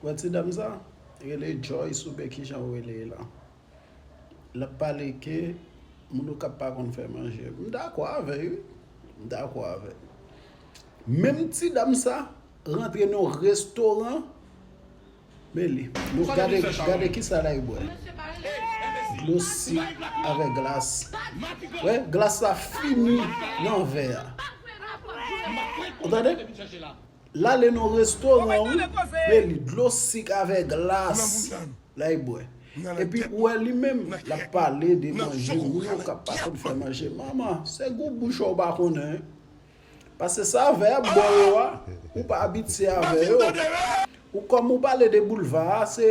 Wè ti dam sa, li rele Joyce ou byen kijan ou rele la. Lap pale ke moun okap pa konn fè manje. M dakò avè l wi, m dakò avè l. Menm ti dam sa rantre nan yon restoran, men li, nou gade, gade kisa lay bwè. Dlo sik avè glas. Wè, glas la fini nan vè a. Ou tande? Lale nan restoran wi men li dlo sik avè glas lay bwè epi ou wè li menm lap pale de manje moun yo kap pa konn fè manje mama se gou bouch ou pa konnen pase sa vè ap bo yo a ou pa abitye avè yo ou kòm ou pale de boulva a se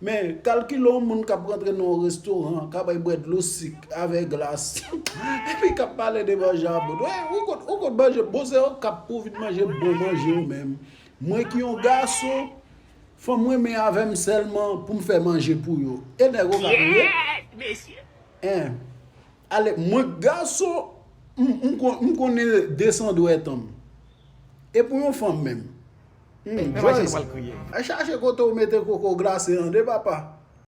Men, kalkile yon moun k ap rantre nan yon restoran, k a bay bwè dlo sik avè glas, epi k ap pale de manje a bon. Ou kont manje bon, se yo k ap pou vin manje bon manje yo menm. Mwen ki yon gason, fanm renmen avè m sèlman pou m fè manje pou yo. E nèg yo k ap ri? Kyèèt mesye! En, ale, mwen k gason, m konnen desan dwèt an m. E pou yon fanm menm? Humm Joyce, chache kote ou mete koko glase an de papa.